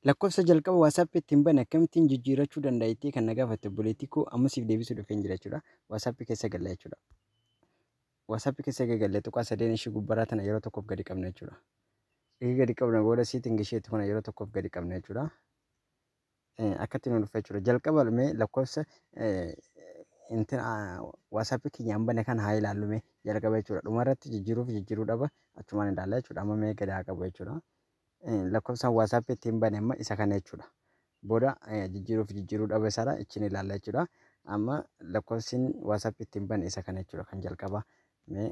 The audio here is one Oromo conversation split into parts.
Lakkoofsa jalqaba WhatsApp ittiin bane akkamittiin jijjiirrachuu danda'a jettee kan na gaafatte obboleettii koo amma siif deebisuu dhufeen jira jechuudha. WhatsApp keessa galla jechuudha. WhatsApp keessa egaa galle tuqaa sadeen ishii gubbaraa tana yeroo tokkoof gadi qabna jechuudha. Egaa gadi qabna booda siitiin isheetti kana yeroo tokkoof gadi qabna jechuudha. akkatti nu dhufe jechuudha. Jalqaba mee lakkoofsa WhatsApp keenyaan bane kana haa ilaallu mee jalqaba jechuudha. Dhumarratti jijjiiruuf jijjiiruu dhaba achumaan ilaalla jechuudha. Amma mee gadi haa qabu jechuudha. Lakkoofsaan WhatsApp ittiin bane amma isa kana jechuudha. Booda jijjiiruuf jijjiiruu dhaba isaadha ittiin ilaalla jechuudha. Amma lakkoofsiin WhatsApp ittiin bane isa kana jechuudha kan jalqabaa. Mee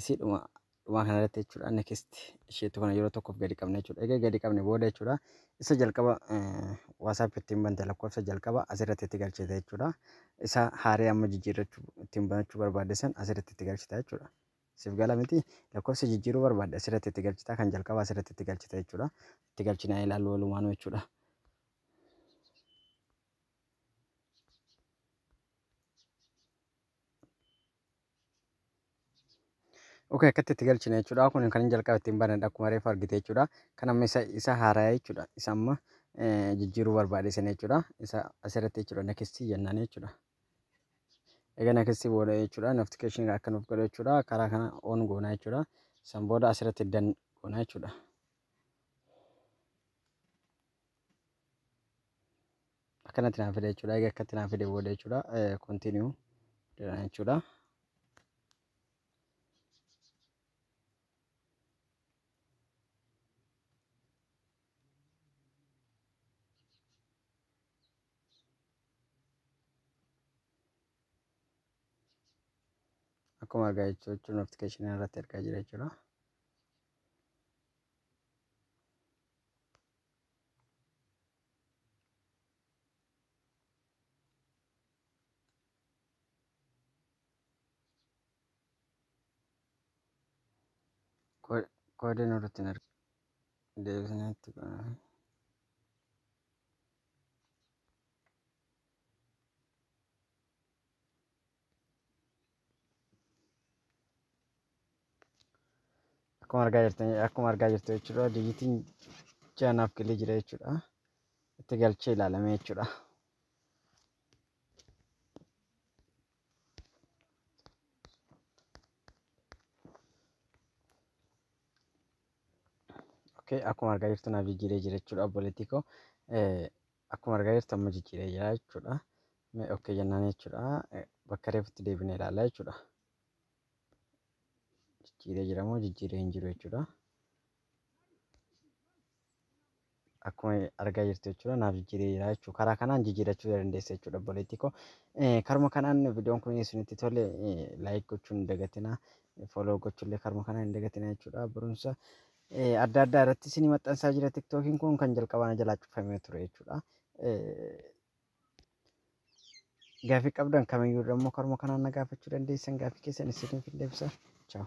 isiidhuma dhumaa kana irratti jechuudha next isheetu kana yeroo tokkoof gadi qabna jechuudha egaa gadi qabne booda jechuudha isa jalqaba waasaap ittiin banta lakkoofsa jalqaba asirratti itti galchita jechuudha isa haaree amma jijjiirrachuu ittiin banachuu barbaadde san asirratti itti galchita jechuudha siif gala miti lakkoofsa jijjiiruu barbaadde asirratti itti galchita kan jalqaba asirratti itti galchita jechuudha itti galchinaa ilaallu walumaanuu jechuudha. Ok akkatti itti galchina jechuudha. Kun kan jalqaba ittiin banadha akkuma reefu argite jechuudha. Kan amma isa isa haaraya jechuudha. Isa amma jijjiiruu barbaade sana jechuudha. Isa asirratti jechuudha nakistii jennaan jechuudha. Egaa nakistii booda jechuudha notification akka nuuf godhu jechuudha. Karaa kana on goona jechuudha. San booda asirratti dan goona jechuudha. akkanatti naaf fide jechuudha. Egaa akkatti naaf fide booda jechuudha. Continue jedhan jechuudha. Akkuma argaa jirtu jechuudha notification irratti argaa jira jechuudha. Koode nurratti hin arginu. Deebisnee itti godhame. akkuma argaa jirtan akkuma argaa jirtu jechuudha dijitiin jaanaaf galee jira jechuudha itti galchee ilaalame jechuudha. Okay, akkuma argaa jirtu naaf jijjiiree jira jechuudha obboleettii koo. Akkuma argaa jirtu amma jijjiiree jira jechuudha. Mee okkee jennaan jechuudha. Bakka reefutti deebinee ilaalla jechuudha. Jijjiiree jira moo jijjiiree hin jiru jechuudha. Akkuma argaa jirtu jechuudha naaf jijjiiree jira jechuudha. Karaa kanaan jijjiirachuu dandeessa jechuudha obboleettii koo. Karuma kanaan viidiyoon kun isinitti tole laayik gochuun hin dagatinaa. Fooloo gochuullee karuma kanaan hin dagatinaa jechuudha. Barumsa adda addaa irratti isin maxxansaa jira tiktookiin kun kan jalqabaa na jalaa cufamee ture jechuudha. Gaafii qabdan kamiyyuu immoo karuma kanaan na gaafachuu dandeessan gaafii keessan isiniif hin deebisa. Chaaw.